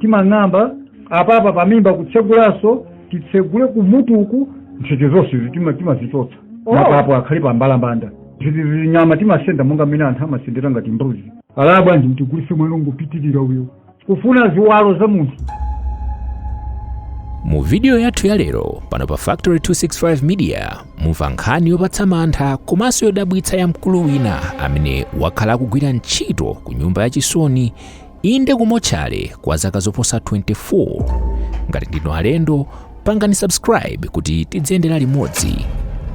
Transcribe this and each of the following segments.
timang'amba apapa pamimba kutsegulanso titsegule kumutuku ntchito zonse izi tima- timazichotsa Oh. mapapo akhale pa mbalambanda izi zinyama timasenda monga mmene anthu amasendera ngati mbuzi alaya bwanji mtigulise mwana wongopitirira uyo kufuna ziwalo za munthu mu vidiyo yathu ya lero pano pa factory 265 media mumva nkhani yopatsa mantha komanso yodabwitsa ya mkulu wina amene wakhala akugwira ntchito ku nyumba yachisoni Inde ku motchale kwa zaka zoposa 24. Ngati ndinu alendo, pangani subscribe kuti tidziyendera limodzi.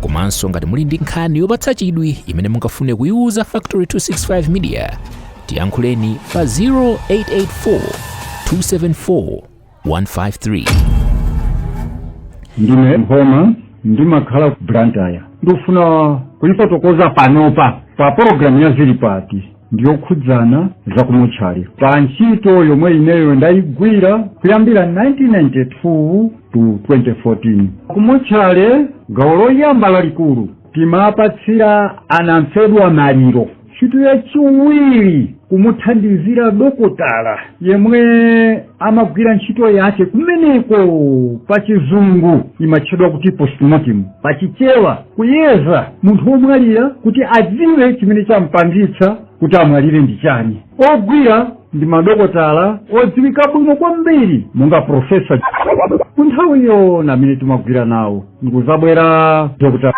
Komanso ngati muli ndi nkhani yopatsa chidwi imene mungafune kuyiwuza Factory 265 Media, tiyankhuleni pa 0884 274 153. ndine mphoma ndimakhala ku blantyre ndikufuna kuifotokoza panopa pa pologalamu ya zilipati ndiyokhudzana za kumotchale pa ntchito yomwe ineyo ndayigwira kuyambira 1992 to 2014 kumotchale gawo loyamba lalikulu timapatsira anamfedwa maliro ntchito yachiwiri kumuthandizira dokotala yemwe amagwira ntchito yake kumeneko pa chizungu imatchedwa kuti postmortem pa chichewa kuyeza munthu womwalira kuti adziwe chimene champangitsa kuti amwalire ndi chani ogwira ndi madokotala odziwika bwino kwambiri monga profesa ku nthawiyo ndi amene timagwira nawo ndikuzabwera dr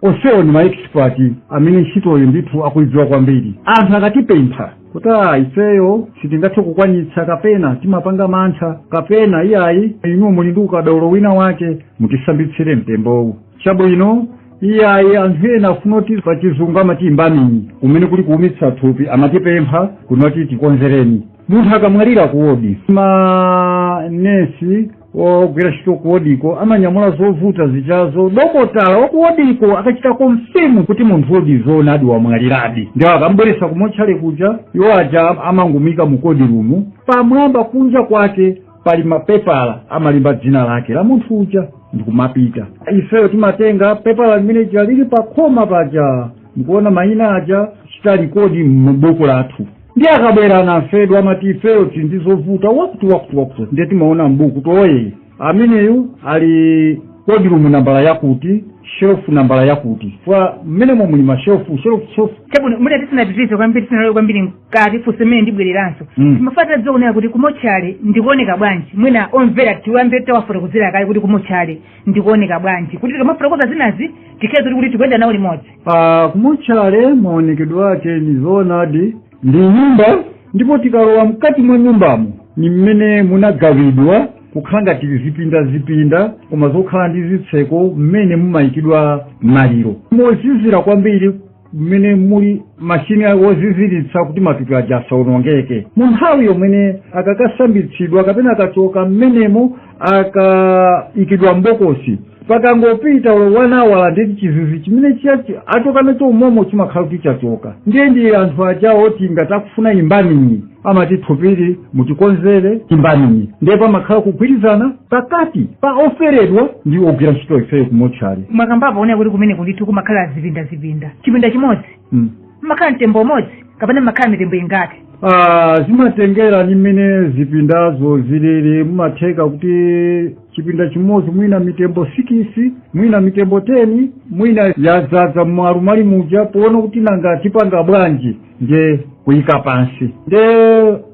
onsewo ndi maekisipati amene ntchitoyo ndithu akuidziwa kwambiri anthu akatipempha kuti "Ah, ifeyo sitingathe kukwanitsa kapena timapanga mantha kapena iyayi inu muli ndi ukadaulo wina wake mutisambitsire mtembowu chabwino iyayi anthu ena afuna kuti pa chizungu amati imbaminyi kumene kuli kuumitsa thupi amatipempha kunena kuti tikonzereni munthu akamwalira kuwodi manesi ogwira ntchito kuwodiko amanyamula zovuta zijazo dokotala wakuwodiko akachita konfirmu kuti munthu uja di zoonadi wamwaliradi ndiye akambweretsa kumotchale kuja iwo aja amangumika mu kodirumu pamwamba kunja kwake pali mapepala amalemba dzina lake la munthu uja ndikumapita ifeyo timatenga pepala limene lija lili pa khoma paja ndikuona mayina aja n'kuchita rikodi m'buku lathu ndiye akabwera anamfedwa amati ifeyo tili ndi zovuta wakuti wakuti wakuti ndiye timaona m'buku kuti oh ameneyu ali kodirumu nambala yakuti shelufu nambala yakuti chifukwa mmenemo muli mashelufu shelufu shelufu chabwino mwina tisanapitirize kwambiri tisanalowe kwambiri mkati funso limene ndibwereranso Mm. timafuna kuti tidziwonera kuti kumotchale n'kooneka bwanji mwina omvera tiyambe tawafotokozera kaye kuti kumotchale n'kooneka bwanji kuti tikamafotokoza zinazi tikhale zoti kuti tikuyenda nawo limodzi pa kumotchale maonekedwe ake ndi zoonadi ndi nyumba ndipo tikalowa mkati mwa nyumbamo ni mmene munagawidwa kukhala ngati zipinda zipinda koma zokhala ndi zitseko mmene mumayikidwa maliro mozizira kwambiri mmene muli mashini oziziritsa kuti matupi aja asawonongeke mu nthawi yomwene akakasambitsidwa kapena akachoka mmenemo akaikidwa mbokosi pakangopita wanawala ndeti chizizi chimene chijachi achoka nacho umomo chimakhala kuti chachoka ndiye ndi anthu ajawo oti ngati akufuna imbaminyi amati thupili mutikonzere imbaminyi ndiye pamakhala kugwirizana pakati pa oferedwa ndi ogwira ntchito ifeyo kumotchale mwakambapo kunena kuti kumeneku ndithu kumakhala zipinda zipinda chipinda chimodzi mm. mmakhala mtembo umodzi kapena mmakhala mitembo ingati Ah, zimatengera ni mmene zipindazo zilili mumatheka kuti chipinda chimodzi mwina mitembo sikisi mwina mitembo teni mwina yadzadza mmalu mali muja poona kuti nanga tipanga bwanji nde kuyika pansi nde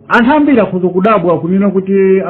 anthu ambiri akhoza kudabwa kunena kuti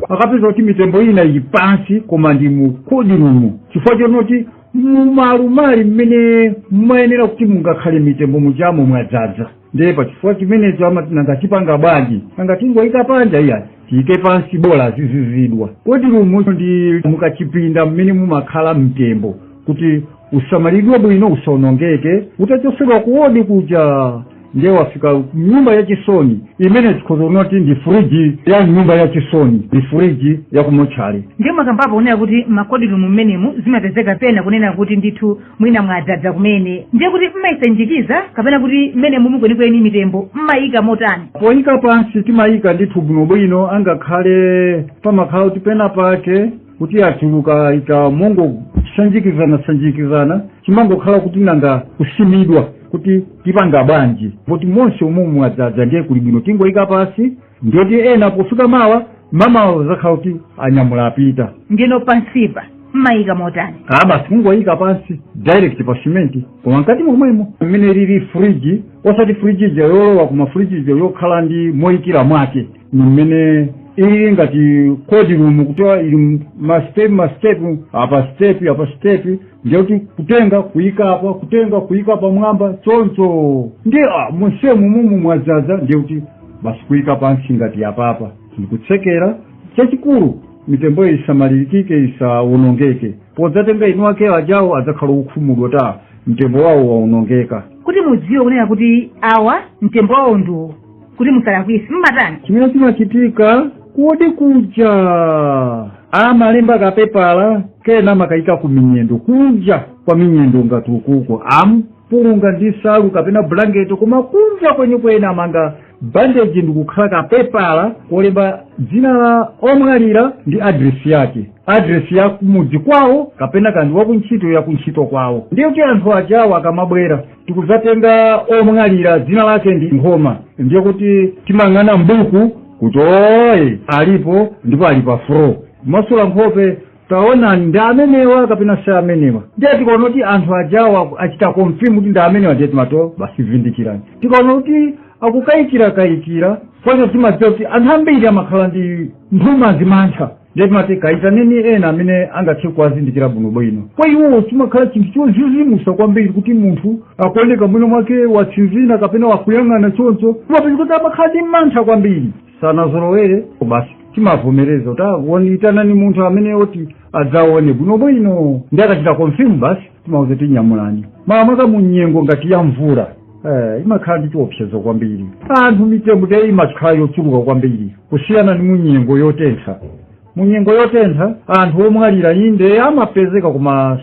akapeza kuti mitembo ina ili pansi koma ndi mu kodirumu chifukwa chonoti mumalumali mmene mmayenera kuti mungakhale mitembo mujamo mwadzadza ndiye pachifukwa chimenecho amati nanga tipanga bwanji nanga tingoyika panja iya tiyike pansi bola azizizidwa kodirumu ndi mukachipinda mmene mumakhala mtembo kuti usamalidwe bwino usawonongeke utachosedwa kuwodi kuja ndiye wafika mnyumba yachisoni imene tikhoza kunoti ndi furiji ya nyumba yachisoni ndi furiji yakumotchale ndiye mwakambapo kunena kuti makodirumu mmenemu zimapezeka pena kunena kuti ndithu mwina mwadzadza kumene ndiye kuti mmayisanjikiza kapena kuti mmenemumu kwenikweni mitembo mmayika motani poyika pansi timayika ndithu bwinobwino angakhale pamakhala kuti pena pake kuti achuluka ika mongosanjikizana sanjikizana chimangokhala kuti nanga kusimidwa kuti tipanga bwanji poti monse umomu mwadzadza ndiye kuli bwino tingoyika pansi ndiyoti ena pofika mawa mamawa zakhala kuti anyamula apita ndino pansipa mmayika motani aa basi kungoyika pansi direct pa simenti koma mkati momwemo mmene lili friji osati friji ija yolowa koma friji ija yokhala ndi moyikira mwake mmene ili ngati kodi rumu kuti ili mastep mastep apa step apa step ndiyekuti kutenga kuyika apa kutenga kuyika pamwamba choncho ndi ah, monse umomu mwadzadza ndiyekuti basi kuyika pansi ngati apapa ndikutsekera chachikulu mitembo isamalirikike isawonongeke podzatenga eni ake ajawo adzakhala okhumudwa kuti mtembo wawo wawonongeka kuti mudziwe kunena kuti awa mtembo wawo ndi uwo kuti musalakwise mmatani chimene chimachitika kodi kuja amalemba kapepala kena amakayika ku minyendo kunja kwa minyendo ngati ukuko amkulunga ndi salu kapena bulangeti koma kunja kwenikweni amanga bandeji ndikukhala kapepala kolemba dzina la omwalira ndi adresi yake adresi ya kumudzi kwawo kapena kaya ndi wakuntchito yakuntchito kwawo ndiye kuti anthu ajawo akamabwera tikudzatenga omwalira dzina lake ndi nkhoma ndiye kuti timayang'ana mbuku kuti oye alipo ndipo ali pa floor masula nkhope taonani ndi amenewa kapena si amenewa ndiye tikaona kuti anthu ajawa achita confirm kuti ndi amenewa ndiye timati basi vindikirani tikaona kuti akukayikira kayikira kwanza timadziwa kuti anthu ambiri amakhala ndi nthumazi mantha ndiye timati kayitaneni ena amene angathe kuwazindikira bwinobwino kwa iwowo chimakhala chinthu chozizimusa kwambiri kuti munthu akuoneka mwina mwake watsinzina kapena wakuyang'ana choncho timapeza kuti amakhala ndi mantha kwambiri sanazolowere basi timavomereza kuti itanani munthu amene oti adzaone bwinobwino ndiye akachita confirm basi timawauza kuti nyamulani makamaka munyengo ngati ya mvula Eh, imakhala ndi chiopsezo kwambiri anthu mitembo te imakhala yochuluka kwambiri kusiyana ndi munyengo yotentha munyengo yotentha anthu omwalira inde amapezeka koma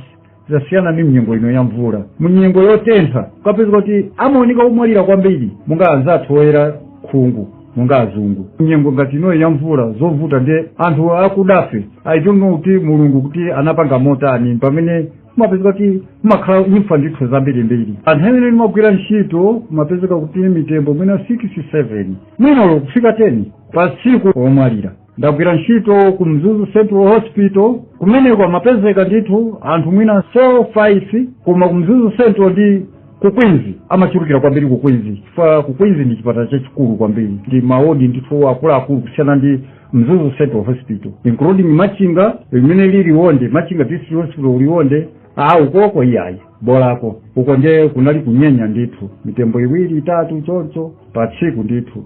zasiyana ndi mnyengo ino ya mvula munyengo yotentha ukapezeka kuti amaoneka omwalira kwambiri monga anzathu oyera khungu monga azungu nyengo ngati inoyi ya mvula zovuta ndi anthu akudafe i don't know kuti mulungu kuti anapanga motani pamene kumapezeka kuti kumakhala imfa ndithu zambirimbiri pa nthawi imene ndimagwira ntchito kumapezeka kuti mitembo mwina 6 7 mwina olo kufika 10 pa tsiku omwalira ndagwira ntchito ku mzuzu central hospital kumeneko amapezeka ndithu anthu mwina 4 5 koma ku mzuzu central ndi ku queens amachulukira kwambiri ku queens chifukwa ku queens ndi chipatala chachikulu kwambiri ndi maodi ndithu akuluakulu kusiyana ndi mzuzu central hospital including machinga limene lili liwonde machinga district hospital liwonde a ukoko iyayi bolako uko nde kunali kunyenya ndithu mitembo iwiri itatu choncho pa tsiku ndithu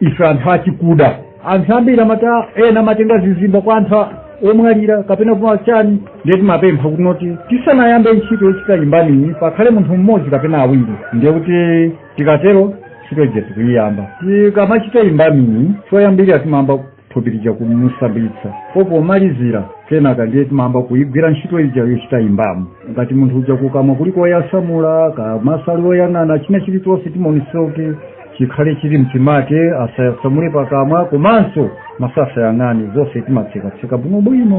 ife anthu achikuda anthu ambiri amati ena amatenga zizimba kwa anthu a- omwalira kapena kwa chani ndiye timapempha kunena kuti tisanayambe ntchito yochita embalming pakhale munthu mmodzi kapena awiri ndiye kuti tikatero ntchito ija tikuyiyamba tikamachita embalming choyambirira timayamba thupi lija kumusambitsa pompo pomalizira kenaka ndiye timayamba kuigwira ntchito ija yochita imbamo ngati munthu uja kukamwa kuli koyasamula kaya maso ali oyang'ana china chilichonse timaonetsa kuti chikhale chili mchimake asayasamule pakamwa komanso maso asayang'ane zonse timatsekatseka bwinobwino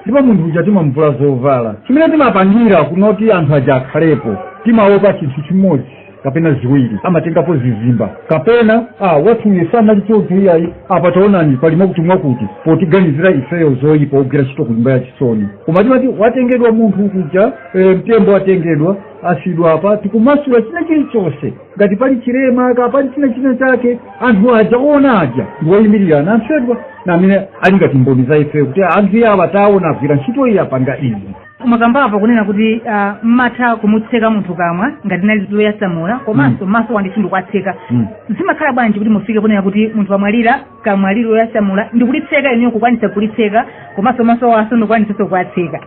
ndipo munthu uja timamvula zovala chimene timapangira kunoti anthu aja akhalepo timaopa chinthu chimodzi kapena ziwiri amatengapo zizimba kapena awathuyu sanali choncho iyayi apa taonani pali mwakuti mwakuti potiganizira ifeyo zoyipa ogwira ntchito ku nyumba ya chisoni koma timati watengedwa munthu kuja e, mtembo watengedwa wasiyidwa apa tikumasula china chilichonse ngati pali chilema kaya pali chinachina chake anthu aja owona aja ndiwoyimirira anamfedwa ndi amene ali ngati mboni za ifeyo kuti anthu awa taona agwira ntchito iyi apanga izi mwakambapo kunena kuti ah, mmatha kumutseka munthu kamwa ngati linali loyasamula komanso maso nawo ndithu ndikuwatseka Mm. zimakhala bwanji kuti mufike kunena kuti munthu wamwalira kamwa lili loyasamula ndikulitseka inuyo kukwanisa kulitseka komanso masowo ndikukwanisanso kuwatseka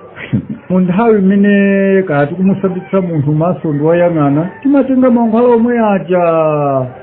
mu nthawi imene kaya tikumusambitsa munthu maso ndi woyang'ana timatenga mankhwala omwe aja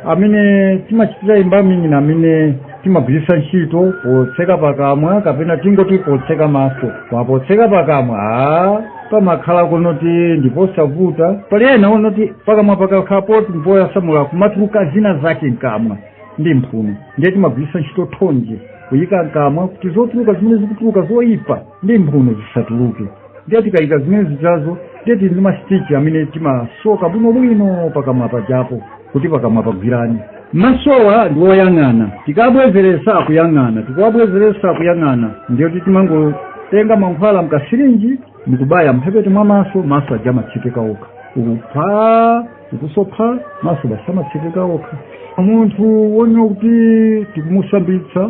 amene timachitira embalming amene timagwiritsa ntchito potseka pakamwa kapena tingoti potseka maso koma potseka pakamwa a pamakhala kunoti ndiposavuta pali ena onoti pakamwa pakakhala poti mpoyasamula kumatuluka zina zake mkamwa ndi mphuno ndiye timagwiritsa ntchito thonje kuyika mkamwa kuti zotuluka zimene zikutuluka zoyipa ndi mphuno zisatuluke ndiye tikayika zimene zijazo ndiye tili ndi masitichi amene timasoka bwinobwino pakamwa pajapo kuti pakamwa pagwirane masowa ndi woyang'ana tikabwezeretsa akuyang'ana tikawabwezeretsa akuyang'ana ndiye kuti timangotenga mankhwala mu kasirinji ndikubaya mphepete mwa maso maso aja amatsekeka okha ukutha ukusoka maso basi amatsekeka okha munthu wonoti tikumusambitsa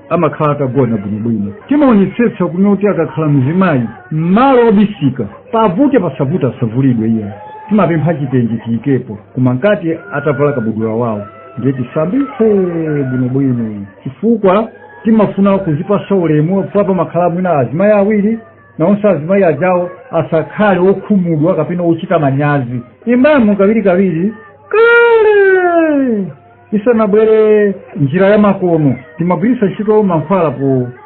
amakhala atagona bwinobwino timaonetsetsa kunoti akakhala mzimayi m'malo obisika pavute pasavute asavulidwe ndiye timapempha chitenje tiyikepo koma mkati atavala kabudula wawo ndiye tisambitse bwinobwino chifukwa timafuna kuzipasa ulemu apa pamakhala mwina azimayi awiri naonse azimayi ajawo asakhale okhumudwa kapena ochita manyazi imbamo kawirikawiri kale isanabwere njira ya makono tinkagwiritsa ntchito mankhwala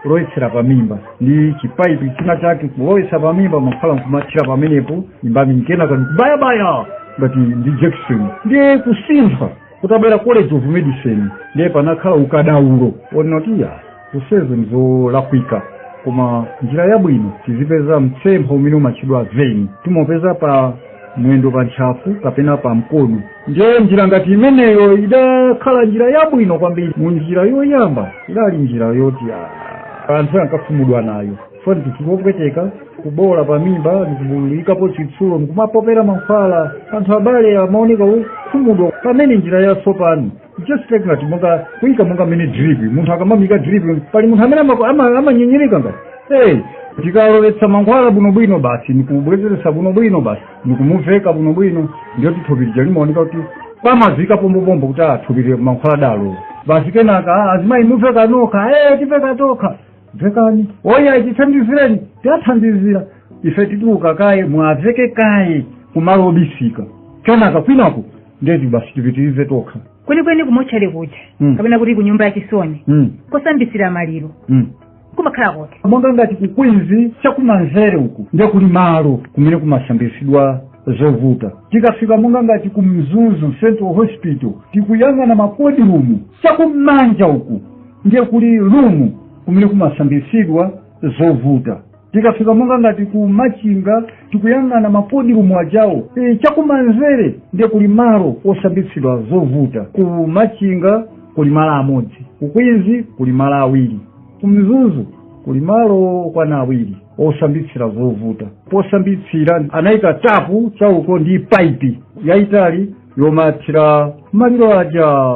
polowetsera pamimba ndi chipaipi china chake kulowetsa pamimba mankhwala nkumathira pamenepo embalming kenaka ndikubayabaya ngati ndi jakisoni ndiye kusintha kutabwera college of medicine ndiye panakhala ukadaulo onoti ya zonsezo ndi zolakwika koma njira yabwino tizipeza mtsempha umene umatchedwa vein timopeza pa mwendo pa ntchafu kapena pa mkono ndiye njira ngati imeneyo idakhala njira yabwino kwambiri mu njira yoyamba idali njira yoti ah, anthu ankakhumudwa nayo for instance kupweteka kuboola pa mimba ndikubululikapo chitsulo ndikumapopera mankhwala anthu abale amaoneka okhumudwa pamene njira yatsopano just like ngati monga kuika monga mmene drip munthu akamamuika drip pali munthu amene ama- ama- amanyinyirika ngati hey tikalowetsa mankhwala bwinobwino basi nikubwezeretsa bwinobwino basi nikumuveka bwinobwino ndiye kuti thupi lija limaoneka kuti pamazika pompopompo kuti athupire mankhwala dalo basi kenaka "Ah, azimayi muveka nokha hey tiveka tokha vekani oya tithandizireni tiwathandizira ife tituluka kaye muwaveke kaye kumalo obisika kenaka kwinaku nde kuti basi tipitirize tokha kwenikweni kumotchale kuja Mm. kapena kuti ku nyumba ya chisoni mm. kosambitsira maliro mm. kumakhala kuti monga ngati ku Queens chakumanzere uku ndiye kuli malo kumene kumasambitsidwa zovuta tikafika monga ngati ku mzuzu central hospital tikuyang'ana ma cold room chakumanja uku ndiye kuli room kumene kumasambitsidwa zovuta tikafika monga ngati ku machinga tikuyang'ana ma cold room ajawo e, chakumanzere ndiye kuli malo osambitsira zovuta ku machinga kuli malo amodzi ku Queens kuli malo awiri ku mzuzu kuli malo okwana awiri osambitsira zovuta posambitsira anayika tapu cha uko ndi paipi yayitali yomathira maliro aja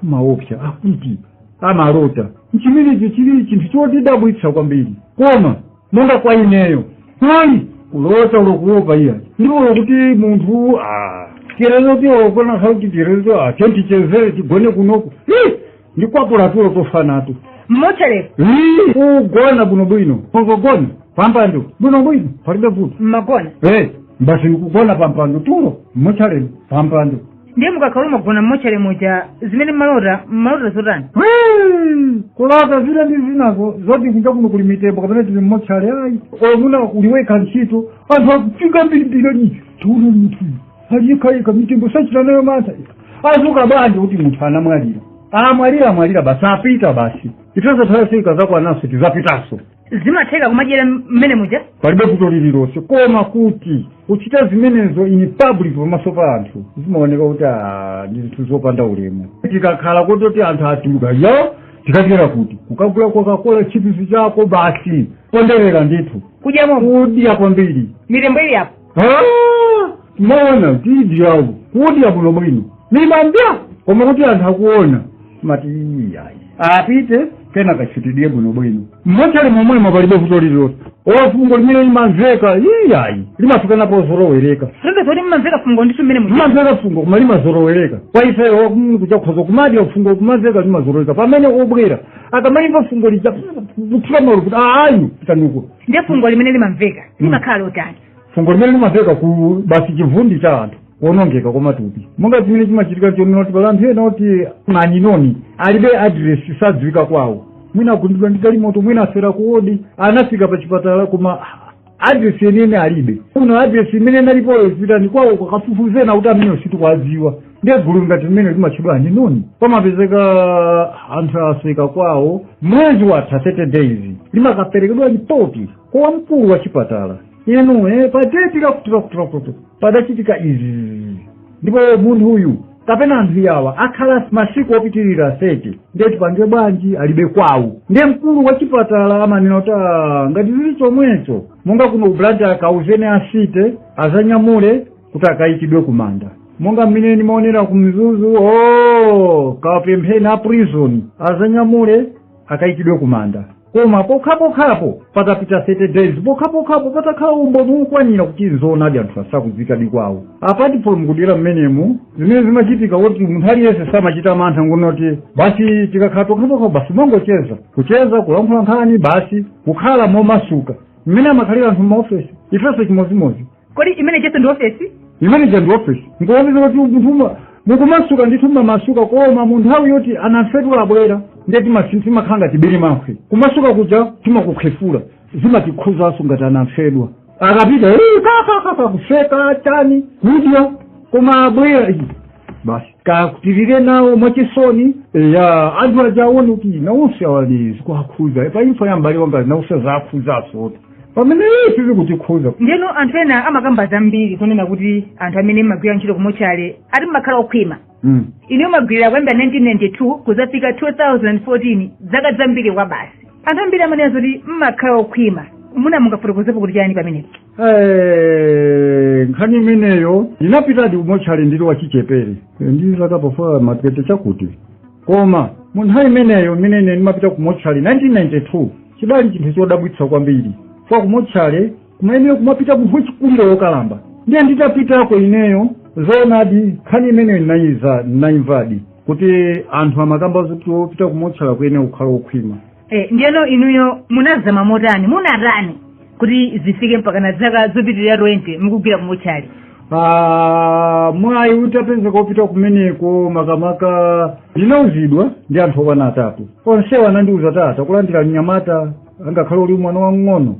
kumaopsa akuti amalota nchimenecho chili chinthu chotidabwitsa kwambiri koma monga kwa ineyo hayi kulota olo kuopa iya ndipo olo kuti munthu ah, chirezo tiolokona sauti chirezo ah, chontichezere tigone kunoko Ih, ndikwapula tulo tofa nato mmotchalemo Ih, kugona bwinobwino kugona pampando bwinobwino palibe vuto mmagona Eh, basi nikugona pampando tulo mmotchale pampando ndiye mukakhala mwagona mmotchale muja zimene mmalota mmalota zotani Hmm, kulota zina ndi zinazo zoti kunja kuno kuli mitembo kapena tili mmotchale ayi omuna uli wekha ntchito anthu akufika ambirimbiri tiona munthu ali yekhayekha mitembo sachita nayo mantha adzuka bwanji kuti munthu anamwalira amwalira amwalira basi apita basi ifenso nthawi yathu ikazakwananso tizapitanso zimatheka kumadyera mmene muja palibe vuto lililonse koma kuti kuchita zimenezo in public pamaso pa anthu zimaoneka kuti ah, ndi zinthu zopanda ulemu tikakhala kuti anthu atuluka yo tikadyera kuti kukagula kokakola chipisi chako basi ponderera ndithu kudyamo kudya kwambiri mitembo ili apo Ah, maona tidi yawo kudya bwino bwino nimadya koma kuti anthu akuona mati iyayi apite kenaka tidye bwino bwino mmochale momwemo palibe vuto lililonse fungo limene limamveka iyayi limafika pozolowereka si nde zoti mumamveka fungo ndithu mmene muja limamveka fungo koma limazolowereka kwa ifeyo mm, kuti ukhoza kumadya fungo kumamveka limazolowereka pamene obwera akamalimva fungo lija kuthira malo kuti ayi pitanuko ndiye fungo limene limamveka limakhala lotani fungo limene limamveka ku basi chivundi cha anthu kuonongeka kwa matupi monga chimene chimachitika chonena kuti pali anthu ena oti ma unknown alibe adiresi sadziwika kwawo mwina agundidwa ndi galimoto mwina afera kuwodi anafika pa chipatala koma adiresi yeniyeni alibe kuno adiresi imene inalipoyo pitani kwawo kafufuzeni kuti ameneyo sitikwadziwa ndiye gulu ngati mmene limatchedwa unknown pamapezeka anthu asoweka kwawo mwezi watha 30 days limakaperekedwa lipoti kwa wamkulu wa chipatala inu eh, pa deti lakuti lakuti lakuti padachitika izi ndipo munthu uyu kapena anthu yawa akhala masiku opitirira 30 ndiye tipange bwanji alibe kwawo ndiye mkulu wa chipatala amanena kuti "Ah, ngati zili chomwecho monga kuno ku blantyre akauzeni a city azanyamule kuti akayikidwe kumanda monga mmene ndimaonera ku mzuzu kawapempheni a prison azanyamule akayikidwe kumanda koma pokhapokhapo patapita 30 days pokhapokhapo patakhala umboni wokwanira kuti nzoonadi anthuwa sakudziwikadi kwawo apati polo mukudera mmenemu zimene zimachitika kuti munthu aliyense samachita mantha ngonoti basi tikakhala pokhapokhapo basi mongocheza kucheza kulankhula nkhani basi kukhala momasuka mmene amakhalira anthu m'maofesi ifenso chimodzimodzi kodi imene ijaso ndi ofesi imene ija ndi ofesi nkuoneza kuti munthu uma- mukumasuka ndithu mmamasuka koma mu nthawi yoti anamfedwa abwera ndiye timasi- timakhala ngati bilimankhwe kumasuka kuja timakukhefula zimatikhuzanso ngati anamfedwa akapita "Eh, kakakaka kuseka chani kudya koma abwera "Ih, basi kuti tilire nawo mwachisoni ya anthu aja aone kuti nawonse awa zikuakhuza pa imfa ya m'bale wanga nawonse zaakhuzaso pamene ife sizikutikhuza ndeno anthu ena amakamba zambiri kunena kuti anthu amene mmagwira ntchito kumochale ati mmakhala okhwima Mm. inu mwagwirira kuyambira 1992 kuzafika 2014 zaka zambiri kwabasi anthu ambiri amanena zoti mmakhala okhwima mwina mungafotokozepo kuti chani pamenepo Eh, nkhani imeneyo ndinapitadi kumochale ndili wachichepere Eh, ndi zaka pafupi ma twenty chakuti koma mu nthawi imeneyo imene ine ndimapita ku motchale 1992 chidali chinthu chodabwitsa kwambiri kwa ku motchale kumayenera kumapita munthu wachikulire wokalamba ndiye nditapitako ineyo zoonadi nkhani imeneyo ndinayiza ndinayimvadi kuti anthu amakamba zoti wopita ku motchale kuyenera kukhala wokhwima e, ndiyeno inuyo munazama motani munatani kuti zifike mpaka na zaka zopitirira 20 mukugwira kumotchale Ah, mwayi utapezeka wopita kumeneko makamaka ndinauzidwa ndi anthu okwana atatu onsewa anandiuza tata- kulandira mnyamata angakhale uli mwana wamng'ono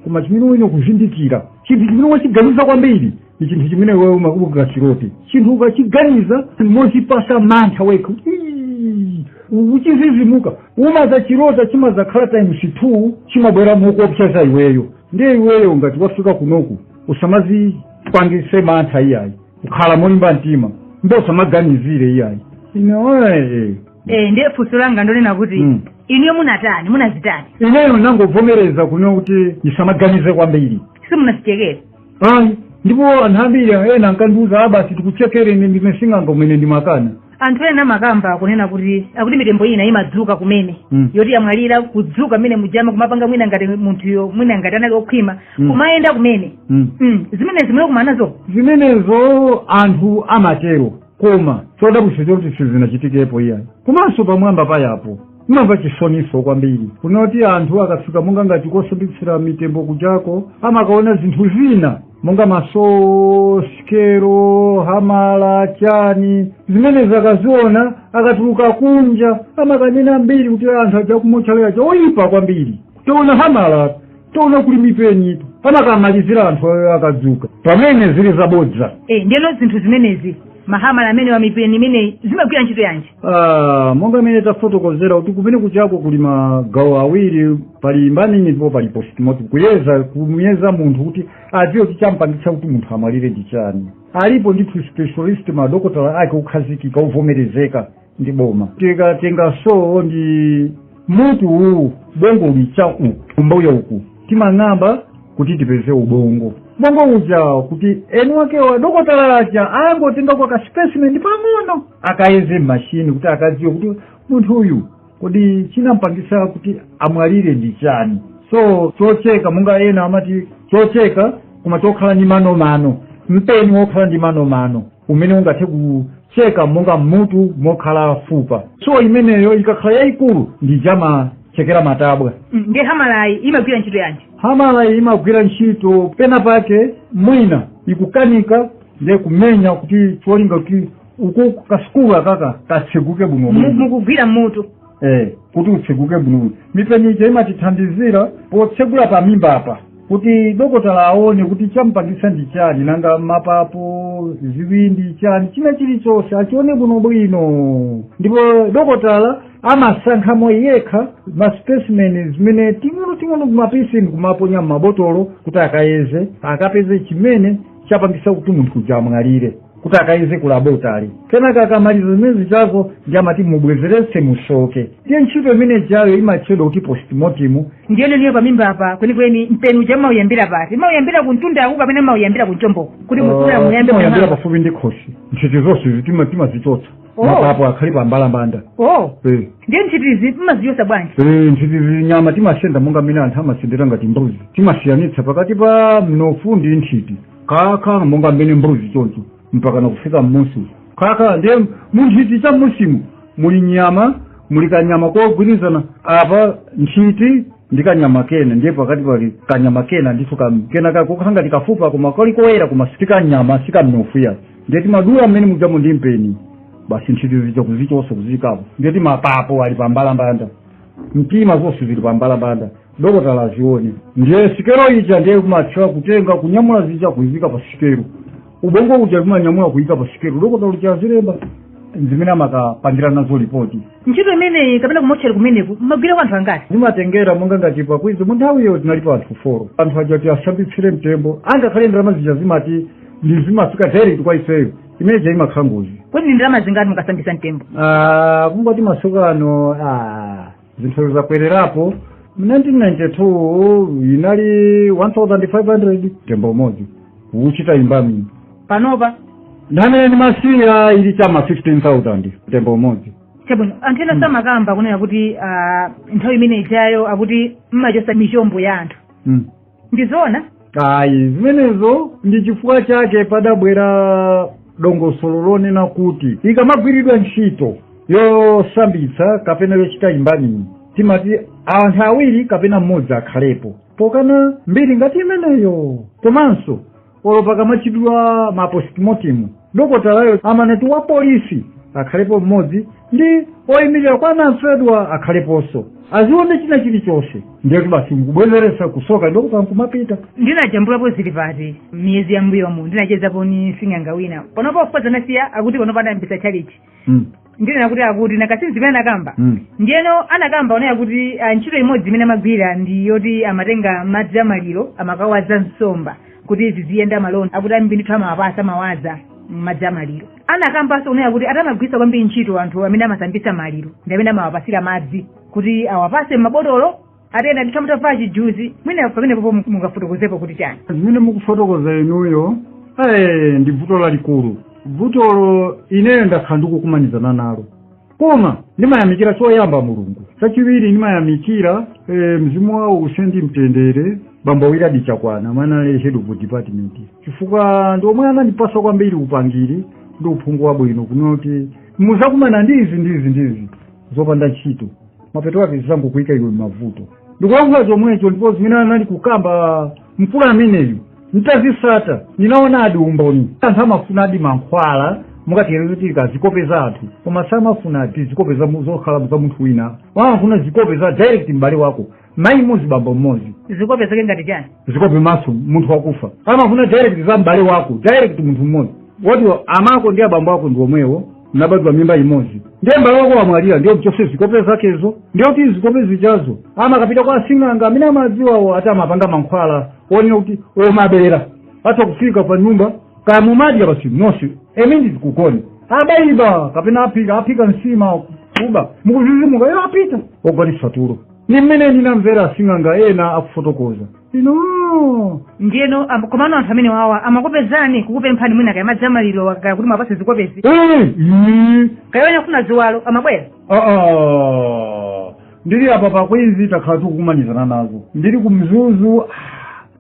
koma chimene iwe kuzindikira chinthu chimene wachiganiza kwambiri ndi chinthu chimene wewe umakubuka chilote chinthu ukachiganiza mozipasa mantha wekha Ii, ukuchizizimuka umaza chilota chimazakhala times two chimabwera mokuopseza iweyo ndiye iweyo ngati wafika kunoku usamazipangise mantha iyayi ukhale molimba mtima mbe usamaganizire iyayi inoe Eh, ndiye funso langa ndi lonena kuti Mm. inuyo munatani munazitani ineyo nangovomereza kunena kuti ndisamaganize kwambiri simunazichekere ayi ndipo anthu ambiri ena ankandiuza a basi tikuchekere ine ndine sing'anga kumene ndimakana anthu ena amakamba kunena kuti akuti mitembo ina imadzuka kumene Mm. yoti yamwalira kudzuka mmene muja makumapanga mwina ngati munthuyo mwina ngati anali okhwima Mm. kumayenda kumene mm. mm. zimenezo kumanazo zimenezo anthu amatero koma chodabwitsa choti sizinachitikepo iyayi komanso pamwamba pa apo ndimamva chisoninso kwambiri kunena kuti anthu akafika monga ngati kosambitsira mitembo kujako amakaona zinthu zina monga masikelo hamala chani zimene akaziona akatuluka kunja amakanena mbiri kuti anthu aja kumotchale aja oyipa kwambiri taona hamala taona kuli mipeni amakamalizira anthu ayo akadzuka pamene zili zabodza e ndiyeno zinthu zimenezi mahamala amene wa mipeni imeneyi zimagwira ntchito yanji Ah, monga imene tafotokozera kuti kumene kujako kuli magawo awiri pali embalming ndipo pali postmortem kuyeza kumuyeza munthu kuti adziwe kuti champangitsa kuti munthu amwalire ndi chani alipo ndithu specialist madokotala ake okhazikika ovomerezeka ndi boma tikatenga so ndi mutu ubongo uli cha uku kumbuyo uku timang'amba kuti tipeze ubongo ubongo uja kuti eni ake adokotala aja angotenga ka kaspecimen pang'ono akayeze mmashini kuti akadziwe kuti munthu uyu kodi chinampangisa kuti amwalire ndi chani so chocheka monga ena amati chocheka koma chokhala ndi manomano mpeni wokhala ndi manomano umene ungathe kucheka monga m'mutu mokhala fupa so imeneyo ikakhala yayikulu ndi ija amachekera matabwa Mm, ndiye hamalayi imagwira ntchito yanji hamalayi imagwira ntchito pena pake mwina ikukanika ndiye kumenya kuti cholinga kuti uku ka skull akaka katseguke bwino Mu- bwino mukugwira mutu eh kuti utseguke bwino mipeni ija imatithandizira potsegula pa mimba apa kuti dokotala aone kuti chamupangitsa ndi chani nanga mapapo ziwindi chani china chilichonse achione bwino bwino ndipo dokotala amasankhamo yekha maspecimen zimene ting'ono ting'ono tumapisi ndikumaponya m'mabotolo kuti akayeze akapeze chimene chapangitsa kuti munthu uja amwalire kuti akayeze ku labotale kenaka akamaliza zimene zijazo ndiye amati mubwezeretse musoke ndiye ntchito imene ijayo imatchedwa kuti postmortem ndi imeneyo pamimba apa kwenikweni mpeni uja mmauyambira pati mmauyambira kumtundaku kapena mmauyambira kunchomboku kuti mukula muyambe muyambira kumanga. pafupi ndi khosi nthiti zonsezi timazichotsa Oh. mapapo akhale pa mbalambanda oh Eh. ndiye nthitizi mmazichotsa bwanji Eh, nthitizi nyama timasenda monga mmene anthu amasendera ngati mbuzi timasiyanitsa pakati pa mnofu ndi nthiti kaka monga mmene mbuzi choncho mpaka nakufika mmusi kaka ndiye munthiti cha mmusimu muli nyama muli kanyama kogwirizana apa nthiti ndi kanyama kena ndiye pakati pali kanyama kena ndithu kam- kena kako kangati kafupa koma kali koyera koma sikanyama sikamnofu ayi ndiye timadula mmene mujamo ndi mpeni basi nthiti zija kuzichotsa kuziika apo ndiye mapapo ali pambalambanda mtima zonse zili pambalambanda dokotala azione ndiye sikelo ija ndiye kumatchula kutenga kunyamula zija kuziyika pa sikelo ubongo uja kumanyamula kuyika pa sikelo dokotala uja azilemba zimene amakapangira nazo lipoti ntchito imeneyi kapena kumotchera kumeneku mmagwira kwa anthu angati zimatengera monga ngati pakwizi mu nthawi iyo tinalipo anthu foro anthu aja kuti asambitsire mtembo angakhale ndalama zija zimati ndi zimafika direct kwa ifeyo imene ja imakhala ngozi kodi ndi ndalama zingati mukasambitsa mtembo Ah, kungoti masukano ah, zinthu zakwererapo mu 1992 inali 1500 mtembo umodzi kuchita imbami panopa nthawi imene ndimasiya ili chama 15000 mtembo umodzi chabwino anthu enanso amakamba kunena kuti ah, nthawi imene ijayo akuti mmachosa michombo ya anthu mm. ndi zoona ayi zimenezo ndi chifukwa chake padabwera dongosolo lonena kuti ikamagwiridwa ntchito yosambitsa kapena yochita imbaniyi timati anthu awiri kapena mmodzi akhalepo pokana mbiri ngati imeneyo komanso olo pakamachitidwa ma postmortem dokotalayo amanena kuti wa polisi akhalepo mmodzi ndi oyimirira kwa anamfedwa akhaleponso azione china chilichonse ndiye kuti basi nkubwezeretsa kusoka dokota nkumapita ndinajambulapo zilipati miyezi yambuyomu ndinachezapo ndi sing'anga wina panopa pake anasiya akuti panopa anayambitsa chalichi mm. ndinena kuti akuti nakasini zimene anakamba Mm. ndiyeno anakamba onena kuti ah, ntchito imodzi imene amagwira ndi yoti amatenga madzi amaliro amakawaza nsomba kuti ziziyenda malonda akuti ambiri ndithu amawapasa amawaza madzi amaliro anakambanso onena kuti ati amagwirisa kwambiri ntchito anthu amene amasambitsa maliro ndi amene amawapasira madzi kuti awapase m'mabotolo atenda ndithu mutavala chijuzi mwina pamenepopo mungafotokozepo kuti chani zimene mukufotokoza inuyo eh, ndi vuto lalikulu vutolo ineyo ndakhala ndikukumanizana nalo koma ndimayamikira choyamba mulungu chachiwiri ndimayamikira eh, mzimu wawo uuse ndi mtendere bambo wiladi chakwana omwe anali head of department chifukwa ndi omwe anandipasa kwambiri upangiri ndi uphungu wabwino kunena kuti muzakumana ndi izi ndi izi ndi izi zopanda ntchito mapeto ake zizangokuyika iwe m'mavuto ndikulankhula zomwecho ndipo zimene anali kukamba mkulu ameneyu ntazisata ndinaonadi umboni anthu amafunadi mankhwala monga tiyerekeze kuti kaya zikope za anthu koma samafuna ati zikope za mu- zokhala za munthu wina amafuna zikope za direct m'bale wako mayi mmodzi bambo mmodzi zikope zake ngati chani zikope maso munthu wakufa amafuna direct za m'bale wako direct munthu mmodzi woti amako ndi abambo ako ndi omwewo mnabadwa mimba imodzi ndiye m'bale wako wamwalira ndiye mchose zikope zakezo ndiye kuti zikope zijazo amakapita kwa asing'anga amene amadziwawo ati amapanga mankhwala onena kuti omabera atha kufika pa nyumba kaya mumadya basi nonse emindi zikugona abaiba kapena aphika aphika nsima kuba mukuzizimuka iwo apita ogonesa tulo ndi mmene ndinamvera asing'anga ena akufotokoza ino ndiyeno am- komano anthu amenewawa amakupezani kukupemphani mwina kaya madzi amaliro kaya kuti muwapase zikopezi Eh, ii, kaya ena akufuna ziwalo amabwera ah, ah. ndili apa pa queens takhala tikukumanizana nazo ndili ku mzuzu ah,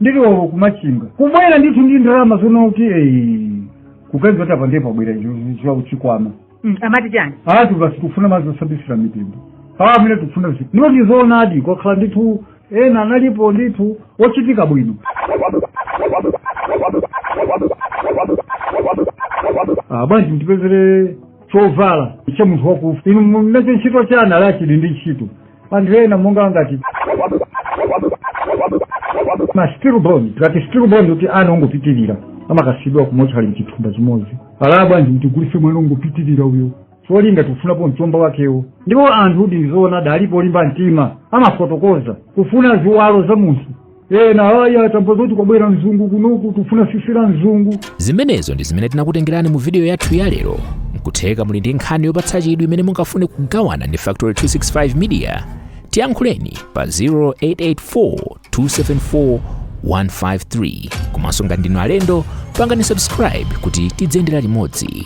ndili olo kumachinga kubwera ndithu ndi ndalama zonena kuti eh, kupeza kuti apa ndiye pabwera chikwama Mm, amati chani ati basi tikufuna madzi osambisira mitembo awa amene tikufuna zi ndipo ndizoonadi kwakhala ndithu ena analipo ndithu ochitika bwino Ah, bwanji mtipezere chovala cha munthu wakufa inu munacho ntchito chani ala chili ndi ntchito anthu ena monga ngati ma stillborn tikati stillborn kuti ana ongopitirira amakasiyidwa ku mortuary mchithumba chimodzi alaa bwanji mtigulise mwana ongopitirira uyo cholinga tikufunapo mchombo wakewo ndipo anthu kuti ndizoona adalipo olimba mtima amafotokoza kufuna ziwalo za munthu ena aya atamva zoti kwabwera mzungu kunoku tufuna sisi la mzungu zimenezo ndi zimene tinakutengerani mu vidiyo yathu ya lero nkutheka muli ndi nkhani yopatsa chidwi imene mungafune kugawana ndi factory 265 media tiyankhuleni pa 0884274153 komanso ngati ndinu alendo pangani subscribe kuti tidziyendera limodzi